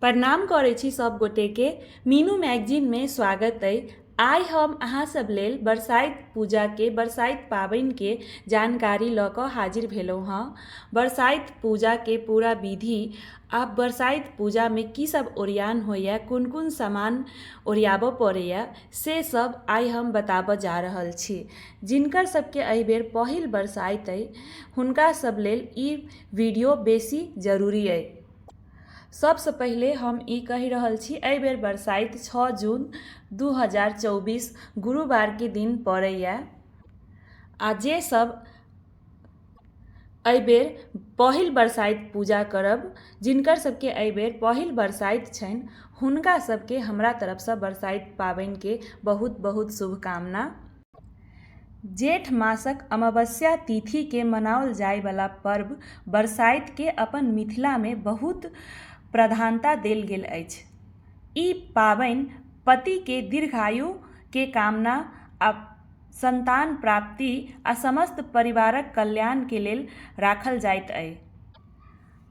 प्रणाम करै छी सब गोटेके मीनू मैगजीनमे स्वागत अइ आइ हम अहाँ सब लेल बरसाइत पूजाके बरसाइत पाबनिके जानकारी लऽ कऽ हाजिर भेलहुँ हँ बरसाइत पूजाके पूरा विधि आओर बरसाइत पूजामे की सब ओरियान होइए कोन कोन सामान ओरियाबऽ पड़ैए से सब आइ हम बताबऽ जा रहल छी जिनकर सबके अइ बेर पहिल बरसाइत अइ हुनका सब लेल ई वीडियो बेसी जरूरी अइ सभसँ पहिले हम ई कहि रहल छी एहि बेर बरसाइत छओ जून दू हजार चौबीस गुरुवारके दिन पड़ैए आ जेसभ एहि बेर पहिल बरसाइत पूजा करब जिनकर सभके एहि बेर पहिल बरसाइत छनि हुनका सभके हमरा तरफसँ बरसाइत पाबनिके बहुत बहुत शुभकामना जेठ मासक अमावस्या तिथि के मनाओल जाय वाला पर्व बरसाइत के अपन मिथिला मे बहुत प्रधानता देल गेल अछि। ई पाबनि पति के दीर्घायु के कामना आ संतान प्राप्ति आ समस्त परिवारक कल्याण के लेल राखल जाइत अछि।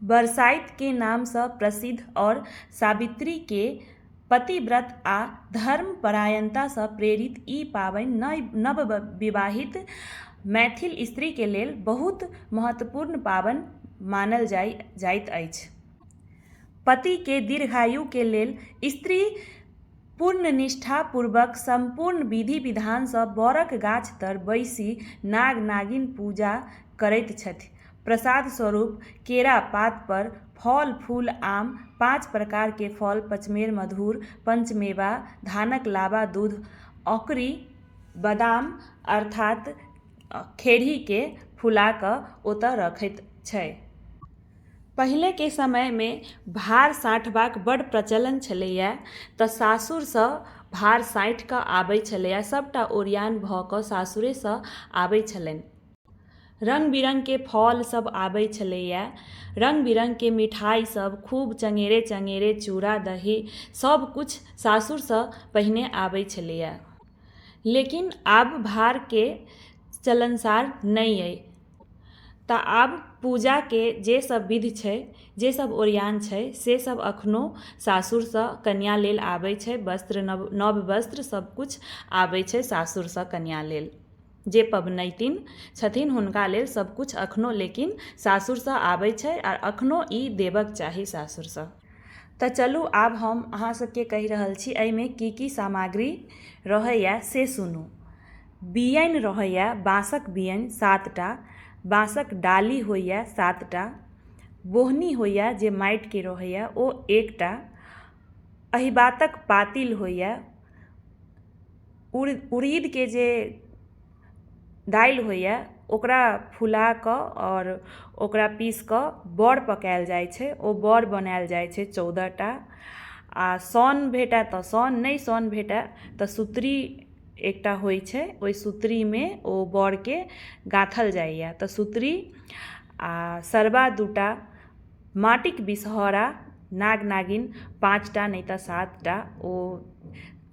बरसाइत के नाम सँ प्रसिद्ध और सावित्री के। पतिव्रत आ धर्मपरायणतासँ प्रेरित ई पाबनि नइ नवविवाहित मैथिल स्त्रीके लेल बहुत महत्वपूर्ण पाबनि मानल जाइ जाइत अछि पतिके दीर्घायुके लेल स्त्री पूर्ण निष्ठापूर्वक सम्पूर्ण विधि विधानसँ बरक गाछतर बैसि नाग नागिन पूजा करैत छथि प्रसाद स्वरूप केरा पात पर फल फूल आम पाँच प्रकार के फल पचमेर मधुर पञ्चमेवा धानक लाबा दूध औकरी बदाम अर्थात खेरही के फूला के ओतऽ रखैत छै पहिले के समय मे भार साटबाक बड प्रचलन छलैया तऽ सासुर सऽ भार साटि कऽ आबै छलैया सबटा ओरियान भऽ कऽ सासुरे सऽ आबै छलनि रंग बिरंग के फल सब आबय छलैया रंग बिरंग के मिठाई सब खूब चंगेरे चंगेरे चूड़ा दही सब कुछ सासुर सॅं पहिने आबय छलैया लेकिन आब भार के चलनसार नहि अछि तऽ आब पूजा के जे सब विध छै जे सब ओरियान छै से सब अखनो सासुर सॅं कनिया लेल आबय छै वस्त्र नव वस्त्र सब कुछ आबय छै सासुर सॅं कनिया लेल जे पबनैतिन छथिन हुनका लेल सब किछु अखनो लेकिन सासुरसँ आबै छै आओर अखनो ई देबक चाही सासुरसँ तऽ चलू आब हम अहाँ सबके कहि रहल छी अइमे की की सामग्री रहैए से सुनू बियनि रहैए बाँसक बियनि सात टा बाँसक डाली होइए सात टा बोहनी होइए जे माटिके रहैए ओ एकटा अहिबातक पातिल होइए उड़ीदके जे दालि होइए ओकरा फुलाकऽ आओर ओकरा पीसिकऽ बड़ पकाएल जाइ छै ओ बड़ बनाएल जाइ छै चौदहटा आओर सन भेटै तऽ सन नहि सन भेटै तऽ सुतरी एकटा होइ छै ओहि सुतरीमे ओ बड़के गाथल जाइए तऽ सुतरी आओर सरबा दूटा माटिके बिसहरा नाग नागिन पाँचटा नहि तऽ सातटा ओ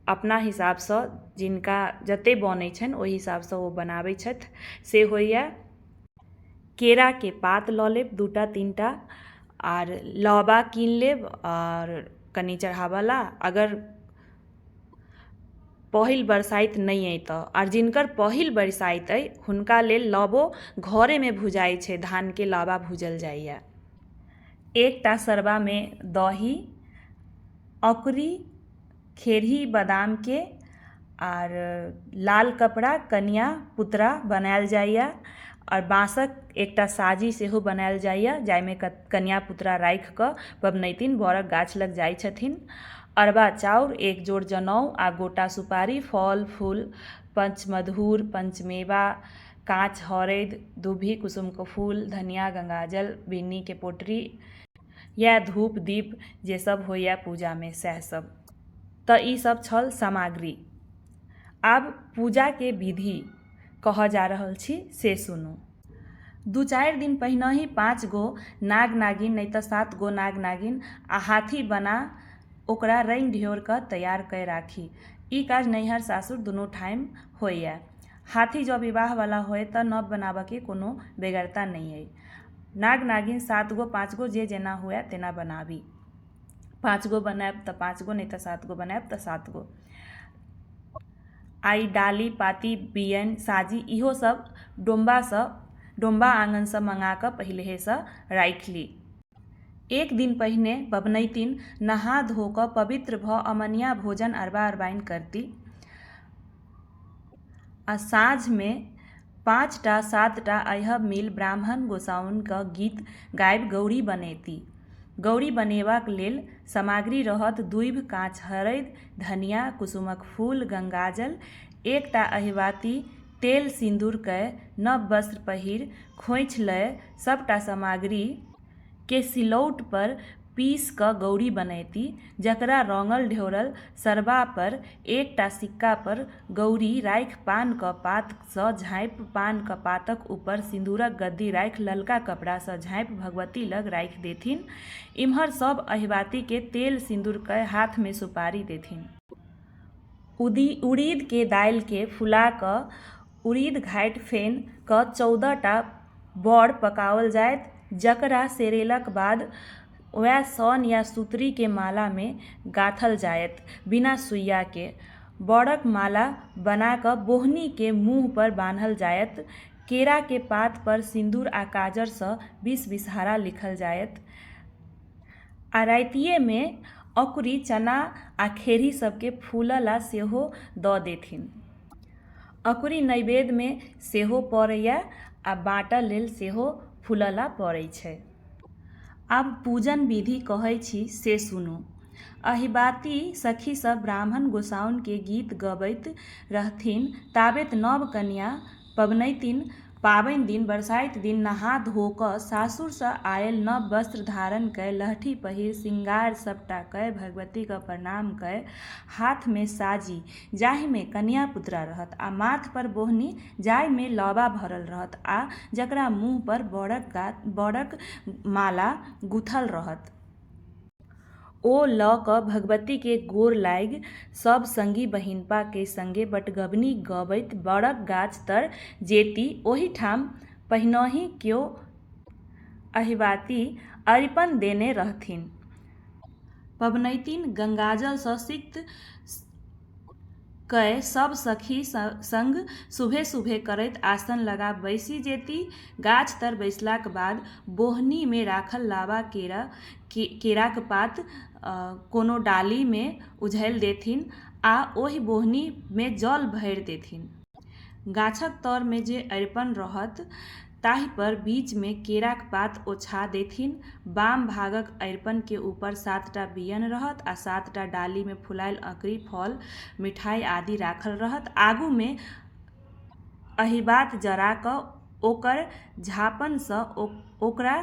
अपना हिसाबसँ जिनका जते बनै छनि ओहि हिसाबसँ ओ बनाबै छथि से होइए केराके पात लऽ लेब दूटा तीनटा आर लाबा कीन लेब आर कनी चढ़ाबऽला अगर पहिल बरसाइत नहि अइ तऽ आर जिनकर पहिल बरसाइत अइ हुनका लेल लाबो घरेमे भुजाइ छै धानके लाबा भुजल जाइए एकटा सरबामे दही अकुरी खेरही बादामके आओर लाल कपड़ा कनिआ पुतरा बनाएल जाइए आओर बाँसके एकटा साजी सेहो बनाएल जाइए जाहिमे कनिआ पुतरा राखिकऽ पबनैतिन बरके गाछलग जाइ छथिन अरबा चाउर एक जोड़ जनउ आओर गोटा सुपारी फल फूल पञ्चमधूर पञ्चमेवा काँच हरदि दुभि कुसुमके फूल धनिआ गङ्गाजल बिन्नीके पोटरी इएह धूप दीप जे सब होइया पूजामे सएह सब तऽ ई सब छल सामग्री आब पूजाके विधि कहऽ जा रहल छी से सुनू दू चारि दिन पहिनहि पाँच गो नाग नागिन नहि तऽ सात गो नाग नागिन आ हाथी बना ओकरा रंगि ढियोरकऽ तैयार कय राखी ई काज नैहर सासुर दुनू ठाम होइया हाथी जँ विवाह बला होय तऽ नब बनाबऽके कोनो बेगरता नहि अहि नाग नागिन सात गो पाँच गो जे जेना हुअए तेना बनाबी पाँच गो बनाएब तऽ पाँच गो नहि तऽ सात गो बनाएब तऽ सात गो आइ डाली पाती बिअनि साजी इहोसब डोमबासँ डोमबा आँगनसँ मँगाकऽ पहिलहेसँ राखि ली एक दिन पहिने पबनैतिन नहा धोकऽ पवित्र भऽ अमनिआ भोजन अरबा अरबाइन करती आओर साँझमे पाँच टा सात टा अइह मेल ब्राह्मण गोसाउनिक गीत गाबि गौरी बनैती। गौरी बनेबाक लेल सामग्री रहत दूभि, काँच हरदि, धनियाँ, कुसुमक फूल, गंगाजल, एक टा अहिबाती, तेल-सिन्दूर कए नव वस्त्र पहिरि खोंछि लए सभ टा सामग्री, केँ सिलौट पर पीस कऽ गौरी बनैती जकरा रौंगल ढेउरल सरबा पर एक टा सिक्का पर गौरी राखि पान क पात सँ झाँपि पान क पातक ऊपर सिंदूरक गद्दी राखि ललका कपड़ा सँ झाँपि भगवती लग राखि देथिन। इम्हर सभ अहिबाती केँ तेल सिंदूर कय हाथ मे सुपारी देथिन। उड़ीद केँ दालि केँ फुला कऽ उड़ीद घाटि फेन कऽ चौदह टा बौर पकाओल जायत जकरा सेरेलाक बाद वएह सोन या सुतरी के माला मे गाथल जायत बिना सुइया के बौरक माला बना कऽ बौहनी के मुँह पर बान्हल जायत केरा के पात पर सिन्दूर आ काजर सँ बीस बिसहारा लिखल जायत आ रातिये मे अकुरी चना आ खेरही सब के फूलऽ ला सेहो दऽ देथिन। अँकुरी नैवेद्यमे सेहो पड़ैए आ बाँटय लेल सेहो फुलौला पड़ै छै। आब पूजन विधि कहै छी से सुनू। अहिबाति सखी सभ ब्राह्मण गोसाउनिकेँ गीत गबैत रहथिन ताबेत नव कनियाँ पबनैतिन पाबैन दिन बरसाइत दिन नहा धो क सासुर सँ आएल नव वस्त्र धारण कए लहठी पहिर शृंगार सबटा कए भगवती क प्रणाम कए हाथ मे साजी जाहि मे कनिया पुतरा रहत आ माथ पर बोहनी जाहि मे लौबा भरल रहत आ जकरा मुँह पर बरक गाछ बरक माला गुथल रहत। ओ लऽ कऽ भगवतीकेँ गोर लागि सभ संगी बहिनपाकेँ संगे बटगवनी गबैत बड़क गाछ तर जेती। ओहिठाम पहिनहि क्यो अहिबाति अरिपन देने रहथिन। पबनैतिन गंगाजलसँ सिक्त कए सभ सखी संग सुभे-सुभे करैत आसन लगा बैसि जेती। गाछ तर बैसलाक बाद बोहनी मे राखल लाबा केराक पात कोनो डाली मे उझैल देथिन आ ओहि बोहनी मे जल भैर देथिन। गाछक तर मे जे अरिपन रहत ताहि पर बीच मे केराक पात ओछा देथिन। बाम भागक अरिपन के ऊपर सात टा बियन रहत आ सात टा डाली मे फुलायल अँकरी, फल, मिठाइ आदि राखल रहत। आगू मे अहिबात जरा कऽ ओकर झाँपन सँ ओकरा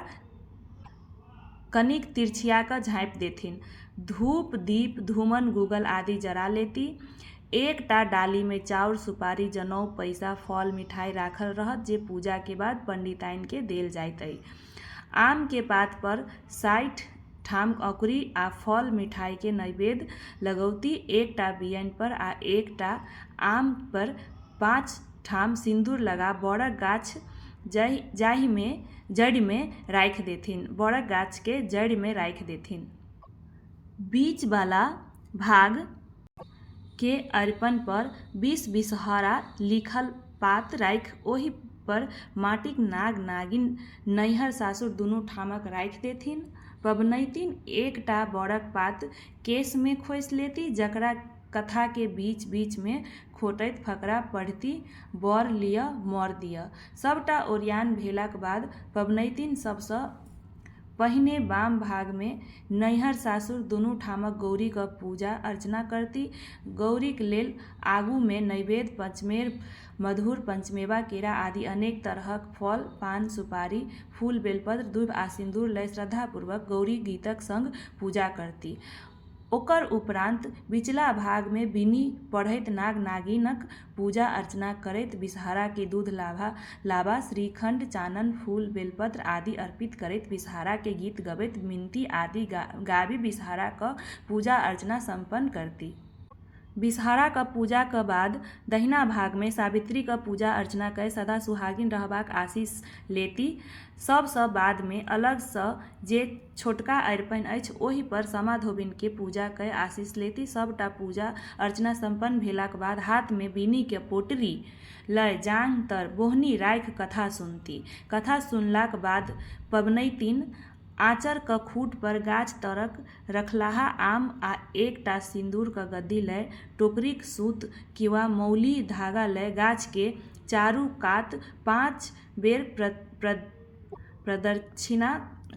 कनिक तिरछिया कऽ झाँपि देथिन। धूप, दीप, धूमन, गूगल आदि जरा लेती। एक टा डाली मे चाउर, सुपारी, जनउ, पैसा, फल, मिठाइ राखल रहत जे पूजा के बाद पंडिताइन के देल जाइत अइ। आम के पात पर साठि ठाम अँकुरी आ फल, मिठाइ के नैवेद्य लगौती। एक टा बियनि पर आ एक टा आम पर पाँच ठाम सिन्दूर लगा बड़क गाछ जाहिमे जड़िमे राखि देथिन बड़क गाछके जड़िमे राखि देथिन। बीच बला भाग के अरिपन पर बीस बिसहरा लिखल पात राखि ओहि पर माटिक नाग नागिन नैहर सासुर दुनू ठामक राखि देथिन। पबनैतिन एक टा बड़क पात केशमे खोसि लेती जकरा कथाके बीच बीचमे खोटैत फकरा पढ़िति बर लिअ वर दिअ। सभटा ओरियान भेलाक बाद पबनैतिन सभसँ पहिने बाम भागमे नैहर-सासुर दुनू ठामक गौरीक पूजा-अर्चना करति। गौरीक लेल आगूमे नैवेद्य, पञ्चमेर, मधुर, पञ्चमेवा, केरा आदि अनेक तरहक फल, पान, सुपारी, फूल, बेलपत्र, दूभि आ सिन्दूर लए श्रद्धापूर्वक गौरी गीतक संग पूजा करति। ओकर उपरान्त बिचला भागमे बिनि पढ़ैत नाग-नागिनक पूजा-अर्चना करैत विषहराकेँ दूध लाभा, लाबा, श्रीखण्ड, चानन, फूल, बेलपत्र आदि अर्पित करैत विषहराकेँ गीत गबैत मिनती आदि गाबि विषहराक पूजा-अर्चना सम्पन्न करती। बिसहाराक पूजाक बाद दहिना भागमे सावित्रीक पूजा अर्चना कए सदा सुहागिन रहबाक आशीष लेति। सभसँ बादमे अलगसँ जे छोटका अरिपन अछि ओहि पर सामा धोबिनकेँ पूजा कए आशीष लेति। सभटा पूजा अर्चना सम्पन्न भेलाक बाद हाथमे बीनिक पोटरी लए जांघ तर बोहनी राखि कथा सुनति। कथा सुनलाक बाद पबनैतिन आँचरक खूँटपर गाछ तरक रखलाहा आम आ एक टा सिन्दूरक गद्दी लए टोकरीक सूत किंवा मौली धागा लए गाछकेँ चारू कात पाँच बेर प्रदक्षिणा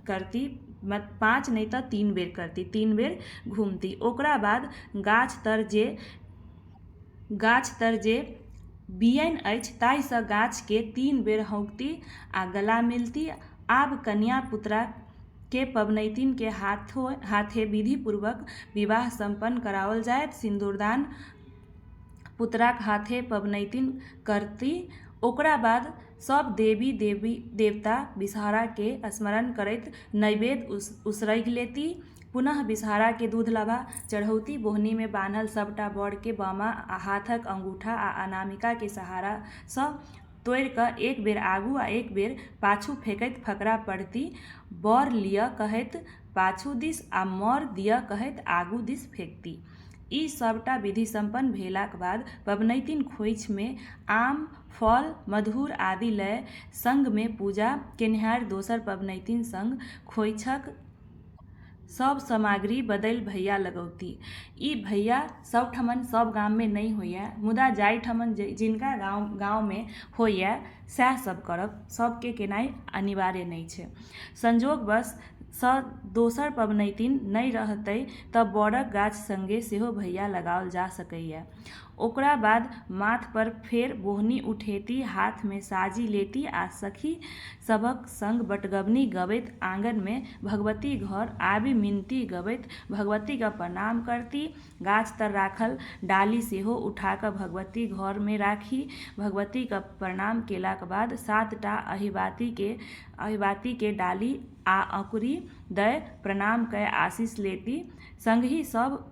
करती, पाँच नहि तँ तीन बेर करती, तीन बेर घुमती। ओकरा बाद गाछ तर जे गाछ तर जे बिअनि अछि ताहिसँ गाछके तीन बेर हौङ्कती आ गला मिलती आब कनिया पुतराके पबनैतिनके हाथो हाथे विधि पूर्वक विवाह सम्पन्न कराओल जायत सिन्दूरदान पुतराक हाथे पबनैतिन करती ओकरा बाद सब देवी देवी देवता विषहराके स्मरण करैत नैवेद्य उसरगि लेती पुनः विषहारा के दूध लाबा। चढ़ौती बोहनी मे बान्हल सभ टा बर के बामा हाथक अंगूठा आ अनामिका के सहारा सँ तोड़ि क एक बेर आगू आ एक बेर पाछू फेकैत फकरा पढ़ती बर लिअ कहैत पाछू दिस आ मर दिअ कहैत आगू दिस फेकती। ई सभ टा विधि सम्पन्न भेलाक बाद पबनैतिन खोइछ मे आम, फल, मधुर आदि लए संग मे पूजा केनिहारि दोसर पबनैतिन संग खोइछक सभ सामग्री बदलि भैया लगौती। ई भैया सभ ठमन सभ गाममे नहि होइए मुदा जाहि ठमन जिनका गाममे होइए सएह सभ करब। सभकेँ केनाइ अनिवार्य नहि छै। संजोगवश सँ दोसर पबनैतिन नहि रहतै तँ बड़क गाछ संगे सेहो भैया लगाओल जा सकैए। ओकरा बाद माथपर फेर बोहनी उठेती, हाथमे साजी लेती आ सखी सभक संग बटगबनी गबैत आंगनमे भगवती घर आबि मिनती गबैत भगवतीक प्रणाम करती। गाछ तर राखल डाली सेहो उठा कऽ भगवती घरमे राखी। भगवतीक प्रणाम केलाक बाद सात टा अहिबातिकेँ डाली आ अँकुरी दए प्रणाम कए आशीष लेती। संगहि सभ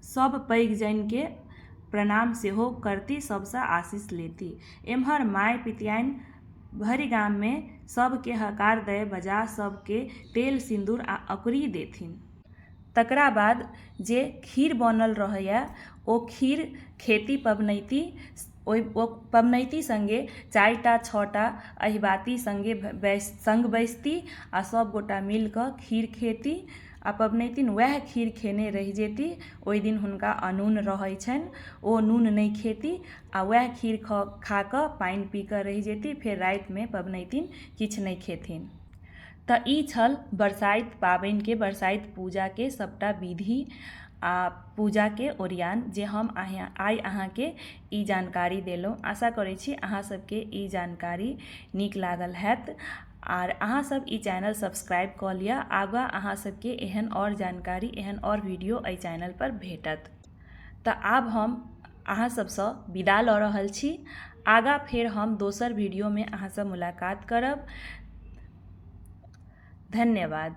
सभ पैघ जनि कऽ प्रणाम सेहो करती सभसँ आशीष लेती। एम्हर माय पितियानि भरि गाममे सभकेँ हकार दए बजा सभकेँ तेल, सिन्दूर आ अँकुरी देथिन। तकरा बाद जे खीर बनल रहैए ओ खीर खेती पबनैति ओहि ओ पबनैति सङ्गे चारि टा छओ टा अहिबाती सङ्गे बैस सङ्ग बैसती आ सभगोटए मिलि कऽ खीर खेती। आ पबनैतिन उएह खीर खेने रहि जयती ओहि दिन हुनका अनून रहैत छनि ओ नून नहि खेती आ उएह खीर खऽ खा कऽ पानि पी कऽ रहि जयती फेर रातिमे पबनैतिन किछु नहि खेथिन तऽ ई छल बरसाइत पाबनिके बरसाइत पूजाके सभटा विधि आ पूजाके ओरियान जे हम अहाँ आइ अहाँकेँ ई जानकारी देलहुँ आशा करैत छी अहाँसभकेँ ई जानकारी नीक लागल हएत आर अहाँ सब ई चैनल सब्सक्राइब कऽ लिअ आगाँ अहाँ सबके एहन आओर जानकारी एहन आओर वीडियो एहि चैनल पर भेटत तऽ आब हम अहाँ सबसँ विदा लऽ रहल छी आगाँ फेर हम दोसर वीडियोमे अहाँसँ मुलाकात करब धन्यवाद